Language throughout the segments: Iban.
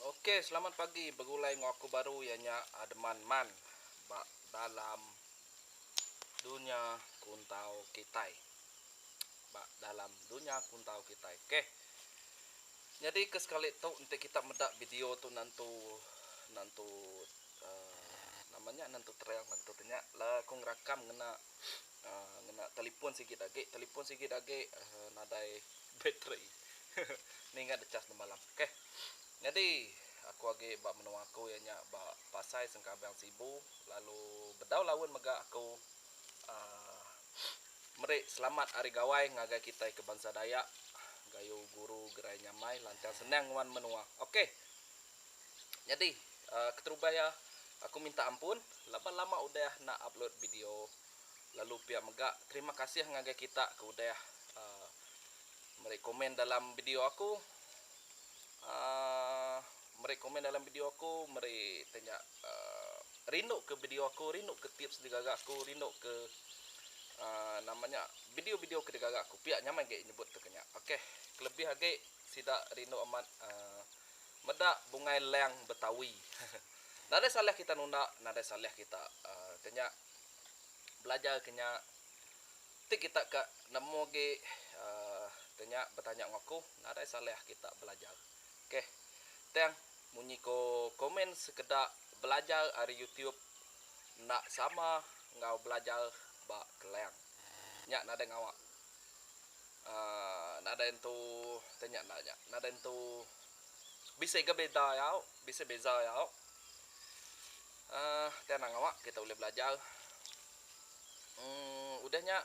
Ok selamat pagi begulai enggau aku baru iya nya Adman Man ba dalam dunya kuntau kitai ba dalam dunya kuntau kitai ok nyadi ke sekali tu enti kita meda video tu nentu nentu Nama nya nentu trail nentu tu nya lah aku ngerakam ngena uhh ngena telefon sigi agi telefon sigi agi uhh nadai bateri nih ingat deh chas nemalam okay nyadi aku agi ba menua aku iya nya ba pasai sengkabang sibu lalu bedau laun mega aku uhh meri selamat ari gawai ngagai kitai ke bansa dayak gayu guru gerai nyamai lancar senang ngenuan menua okay. Nyadi keterubah iya aku minta ampun laban lama udah enda upload video lalu pia mega terima kasih ngagai kita ke udah meri komen dalam video aku uhh meri komen dalam video aku meri iti nya uhh rindu ke video aku rindu ke tips ti gaga aku rindu ke uhh nama nya video-video ke digaga aku pia nyamai agi nyebut tu ke nya ok kelebih agi sida rindu amat uhh. Meda bungai lang betawi. Nadai salah kita nunda nadai salah kita ke nya belajar ke nya ti kita ka nemu agi ke nya betanya enggau aku nadai salah kita belajar ok tang munyi ko komen sekeda belajar ari youtube enda sama enggau belajar ba kelang nya nadai ngawa aaa nadai entu tei nya enda nya nadai entu bisi ga beda yau bisi beza yau aaa ti anang awa kita ulih belajar emm udah nya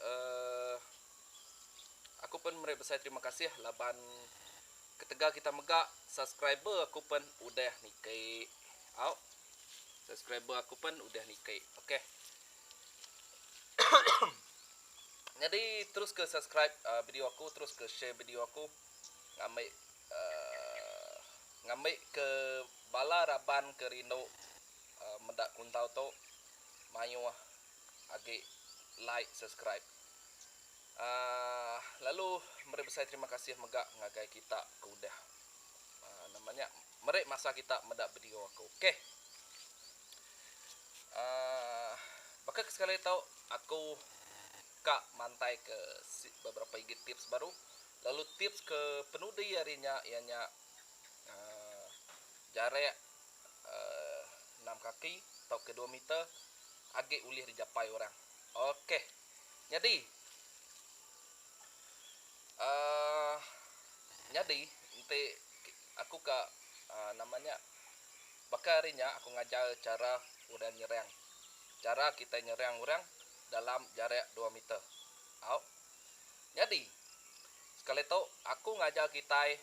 aaa aku pun meri besai terima kasih laban ketegal kita mega subscriber aku pun udah niki au subscriber aku pun udah niki okey. Nyadi teruska subscribe video aku teruska share video aku ngambi ngambi ke bala raban ke rindu meda kuntau tu mayuh agi like subscribe lalu meri besai terima kasih mega ngagai kita ke udah nama nya meri masa kita meda video aku ok. Aaa baka ke sekali tau aku ka mantai ke si beberapa igi tips baru lalu tips ke penudi ari nya iya nya aaa jarak aaa enam kaki tauka dua meter agi ulih dijapai orang. Ok nyadi aaa nyadi enti aku ka aaa nama nya Baka ari nya aku ngajar chara udah nyerang. Chara kitai nyerang orang dalam jarak dua meter. Au. Nyadi, sekali tu aku ngajar kitai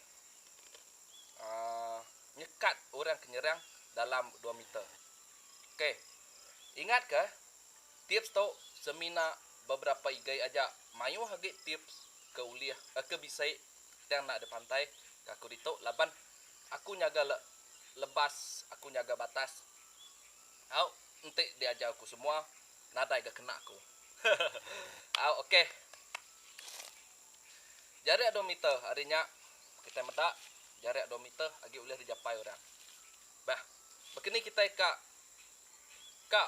uhh nyekat orang ke nyerang dalam dua meter. Ok. Ingat ka, tips tu semina beberapa igai aja. Mayuh agi tips ke ulih ke bisi tang enda dipantai ka aku ditu laban Aku nyaga le lebas aku nyaga batas au enti diajar ku semua nadai ga kena aku hehehe au ok jarik dua meter ari nya kitai meda jarik dua meter agi ulih dijapai orang bah bakini kitai ka ka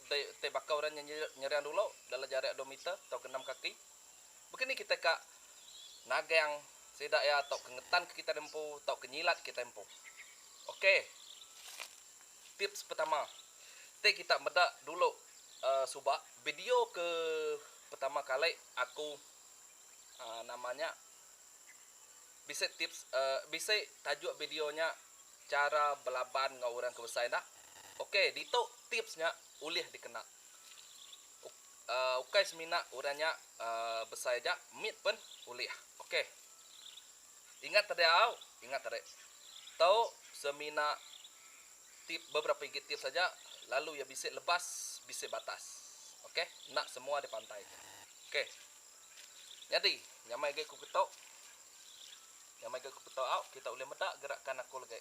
ti baka orang nyerang dulu dalam jarik dua meter tau genam kaki. Baka ni kitai ka nagang sida iya tauka ngetanka kitai da empu tauka nyilat kitai empu. Ok. Tips pertama. Ti kita meda dulu uhh suba video ke pertama kali aku uhh nama nya bisi tips uhh bisi tajuk video nya chara belaban enggau orang ke besai enda. Ok ditu tips nya ulih dikena. Ok. Ukai semina orang nya besai aja mit pen ulih ok ingat tadi au ingat tadi to semina tip beberapa igi tips aja lalu ia bisi lebas bisi batas ok enda semua dipantai ok nyadi nyamai agi ku keto nyamai agi ku keto au kita ulih meda gerakan aku legi.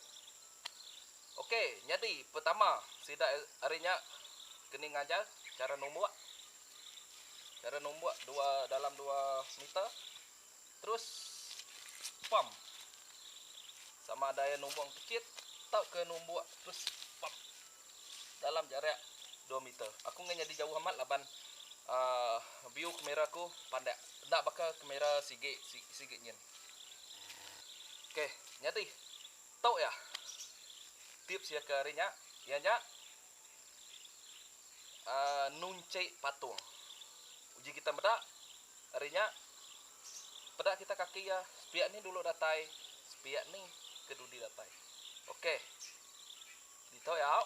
Ok, nyadi pertama sida ari nya keni ngajar chara numbuk. Chara numbuk dua dalam dua meter. Terus pam. Sama ada iya numbuk kecit tauka numbuk terus pam. Dalam jarak dua meter. Aku enggai nyadi jauh amat laban uh, view kamera aku pandak. Enda baka kamera sigi sigi nyin. Ok, nyadi. Tu iya tips iya ke hari nya iya nya uhh nunchi patung. Uji kita meda hari nya peda kita kaki iya sepiak ni dulu datai sepiak ni ke dudi datai. Ok ditu iya au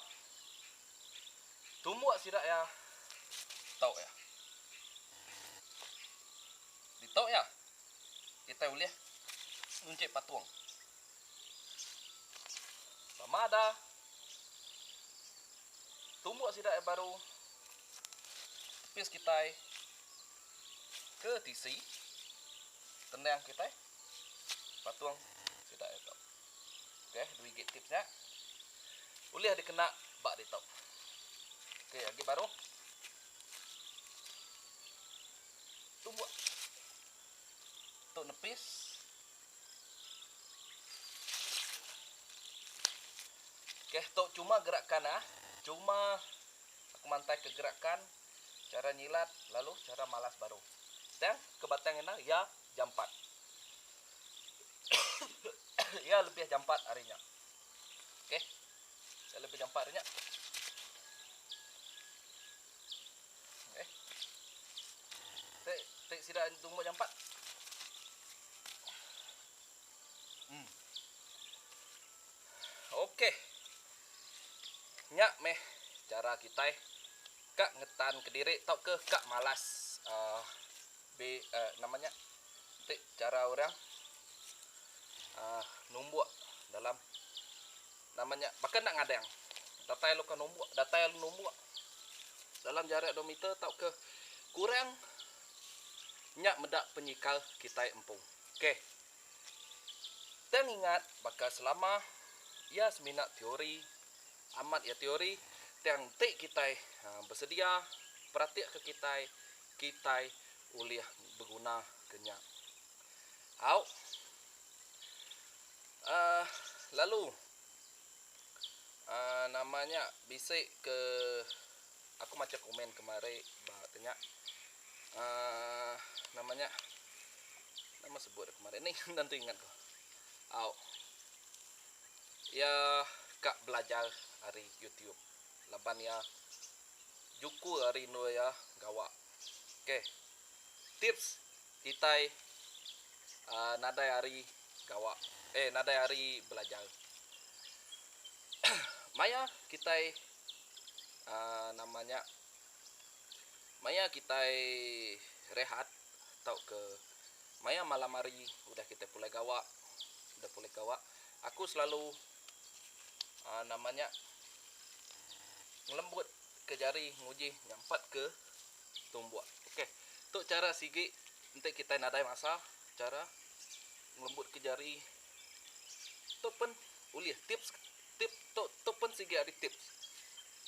tumbuk sida iya tu iya. Ditu iya kita ulih nunchi patung. Sama ada tumbuk sida ai baru pis kitai ke tisi tendang kitai patung sida ai tu. Okey, dua gig tips nya. Ulih dikena ba ditu. Okey, agi baru. Tumbuk. Tu nepis. Okey tu cuma gerakan ah. Cuma aku mantai ke gerakan cara nyilat lalu cara malas baru. Tang ke batang enda ya jampat. ya lebih jampat ari nya. Okey. Ya lebih jampat ari nya. Okey. Teh, teh sida tumbuk jampat. Hmm. Okey. Nya meh cara kita ka ngetan ke diri tauka ka malas uh, be uh, nama nya? Teh cara orang uh, numbuk dalam Nama nya baka enda ngadang. Datai alu ka numbuk, datai alu numbuk dalam jarak dua meter tauka kurang nya meda penyikal kitai empu. K. Tang ingat baka selama iya semina teori, amat iya teori tang enti kitai besedia peratika kitai, kitai ulih begunaka nya. Au. Aah lalu aah nama nya bisi ke aku macha komen kemari ba tu nya aah nama nya nama sebut iya kemari nih enda nentu ingat ku au iya ka belajar ari youtube laban iya juku ari endur iya gawa okay tips Kitai nadai ari gawa eh nadai ari belajar. Maya kitai nama nya maya kitai rehat tauka maya malam hari udah kitai pulai gawa udah pulai gawa aku selalu aa nama nya ngelembut ke jari nguji nyampat ke tumbuk okey tu chara sigi enti kitai nadai masa chara ngelembut ke jari tu pun ulih tips tip tu tu pun sigi ari tips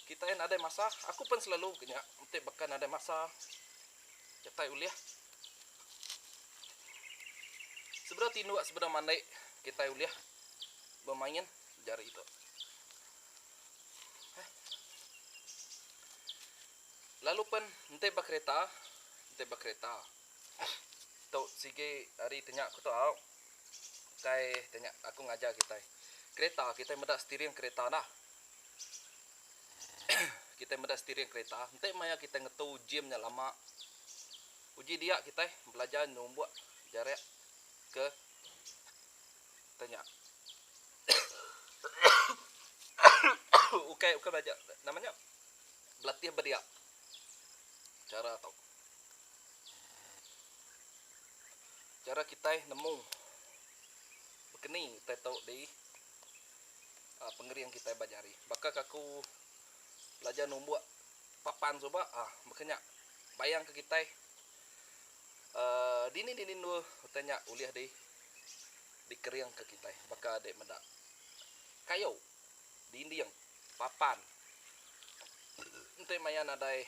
kitai nadai masa aku pun selalu ke nya enti baka nadai masa kitai ulih sebedau tinduk sebedau mandai kitai ulih. bemain jari tu. Hah. Lalu pen enti ba kereta, enti ba kereta. Tu sigi hari tenya aku tu au. Ukai tenya aku ngajar kitai. Kereta kitai meda steering kereta dah. kitai meda steering kereta, enti maya kitai ngetu gym nya lama. Uji dia kitai belajar numbuk jarak ke Tanya. ukai ukai belajar nama nya belatih bedia cara tau cara kitai nemu bekeni kitai tau di uh, pengering kitai ba jari baka kaku belajar numbuk papan suba ah baka nya bayang ke kitai Dini dini endur utai nya ulih di dikeringka kitai baka dek meda kayu, dinding, papan enti maya nadai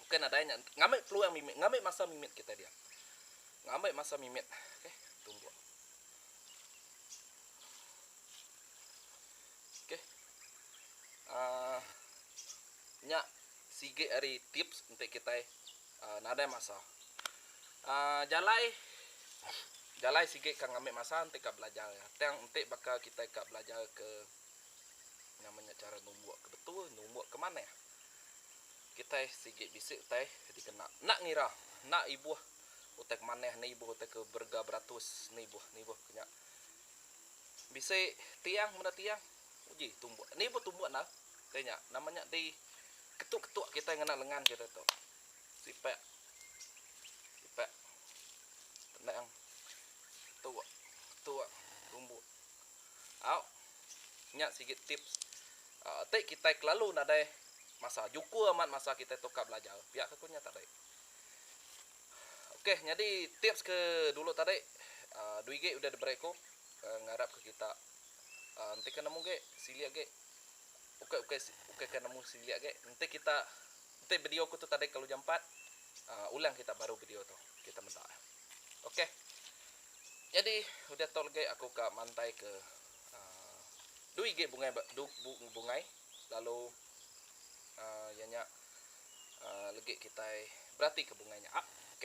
bukai nadai nya ngambi peluang mimit ngambi masa mimit kitai dia ngambi masa mimit ok tumbuk ok uhh nya sigi ari tips enti kitai. Nadai masa. Jalai jalai sigi ka ngambi masa enti ka belajar iya. Tang enti baka kitai ka belajar ke nama nya chara numbuk ke betul, numbuk ke manah. Kitai sigi bisi utai dikena. Enda ngira, enda ibuh utai ke manah, enda ibuh utai ke berega beratus, enda ibuh, enda ibuh ke nya. Bisi tiang meda tiang. Uji tumbuk. Ni pun tumbuk enda. Deh nya. Nama nya di ketuk-ketuk kitai ngena lengan kitai tu. Sipak. Sipak. Tenang. Ketuk. Ketuk. Tumbuk. Au. Nya sigi tips. Uh, ti kitai kelalu nadai masa. Jukur amat masa kitai tu ka belajar. Pia ke ku nya tadi. Okey, nyadi tips ke dulu tadi. Uh, ah, Duigi udah diberi ku. Uh, ngarap ke kita. Enti ke nemu ge silik ge ukai ukai ukai ke nemu silik ge enti kita enti video ku tu tadai ke lujan empat um ulang kita baru video tu kita meda ok jadi udah tu legi aku ka mantai ke um dui ge bungai du bungai lalu um iya nya um legi kitai beratika bungai nya ok.